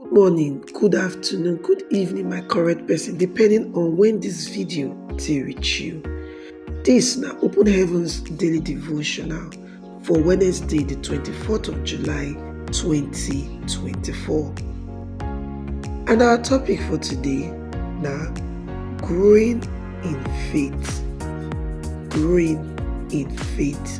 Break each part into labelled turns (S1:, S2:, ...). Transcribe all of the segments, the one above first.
S1: Good morning, good afternoon, good evening my correct person depending on when this video dey reach you. This na Open Heavens Daily Devotional for Wednesday the 24th of July 2024. And our topic for today na growing in faith. Growing in faith.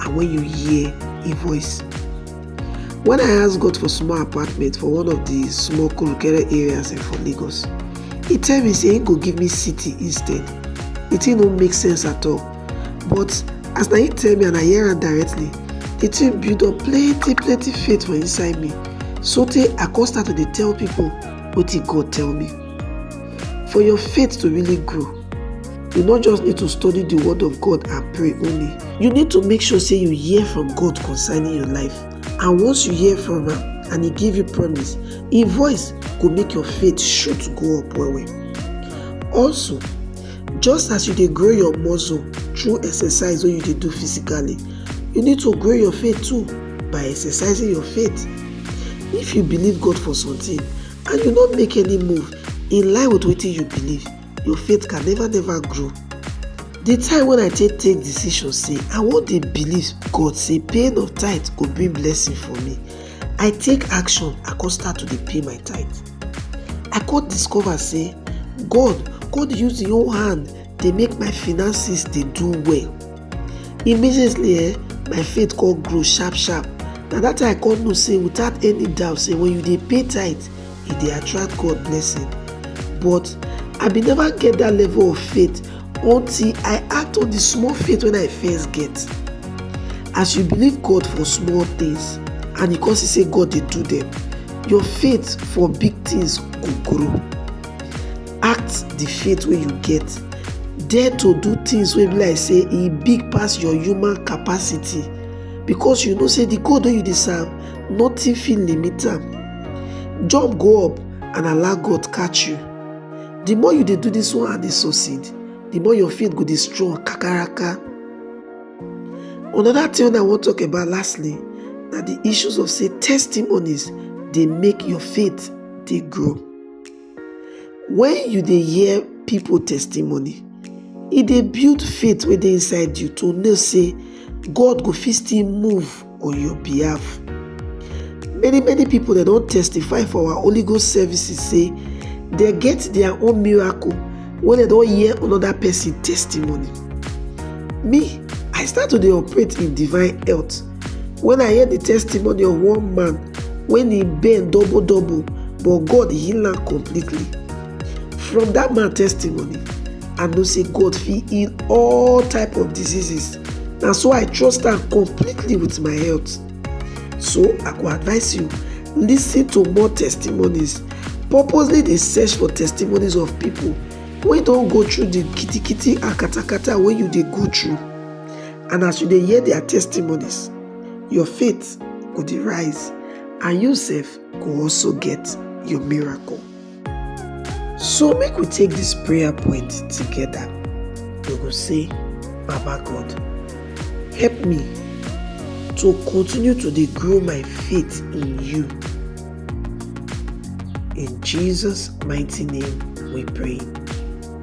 S1: and when you hear a voice. When I ask God for small apartment for one of the small Kurukere areas for Lagos, he tell me say he go give me city instead. The thing no make sense at all. But as na he tell me and I hear am directly, the thing build up plenty plenty faith for inside me. Sotey I come start to dey tell people wetin God tell me. For your faith to really grow, you no just need to study the word of God and pray only. You need to make sure say you hear from God concerning your life. And once you hear from am and he give you promise, him voice go make your faith shoot go up well well. Also, just as you dey grow your muscle through exercise wey you dey do physically, you need to grow your faith too by exercising your faith. If you believe God for something and you no make any move in line with wetin you believe, your faith can never never grow. The time when I take take decision say I wan dey believe God say paying of tithe go bring blessing for me, I take action I come start to dey pay my tithe. I come discover say God come dey use im own hand dey make my finances dey do well. Immediately eh, my faith come grow sharp sharp. Na that time I come know say without any doubt say when you dey pay tithe, e dey attract God blessing. But I bin never get that level of faith until I act on the small faith when I first get. As you believe God for small things and you come see say God dey do them, your faith for big things go grow. act the faith wey you get dare to do things wey be like say e big pass your human capacity because you know say the god wey you dey serve nothing fit limit am jump go up and allow god catch you the more you dey do this one and dey succeed the more your faith go dey strong kakaraka another thing wey i wan talk about lastly na the issues of say testimonies dey make your faith dey grow Wen you dey hear pipu testimony, e dey build faith wey dey inside you to know sey God go fit still move on your behalf. Many many pipu dem don testify for our Holy Ghost services sey dem get their own miracle wey dem don hear another person testimony. Me, I start to dey operate in divine health. When I hear the testimony of one man when he bend double double but God heal am completely. From that man testimony, I know say God fit heal all type of diseases. Na so I trust am completely with my health. So I go advise you, listen to more testimonies. Purposely dey search for testimonies of people wey don go through the kitikiti and katakata wey you dey go through. and as you dey hear their testimonies your faith go dey rise and you sef go also get your miracle so make we take this prayer point together we go say baba god help me to continue to dey grow my faith in you in jesus mighty name we pray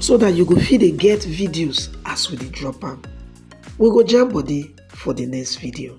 S1: so that you go fit dey get videos as we dey drop am we go jam body for the next video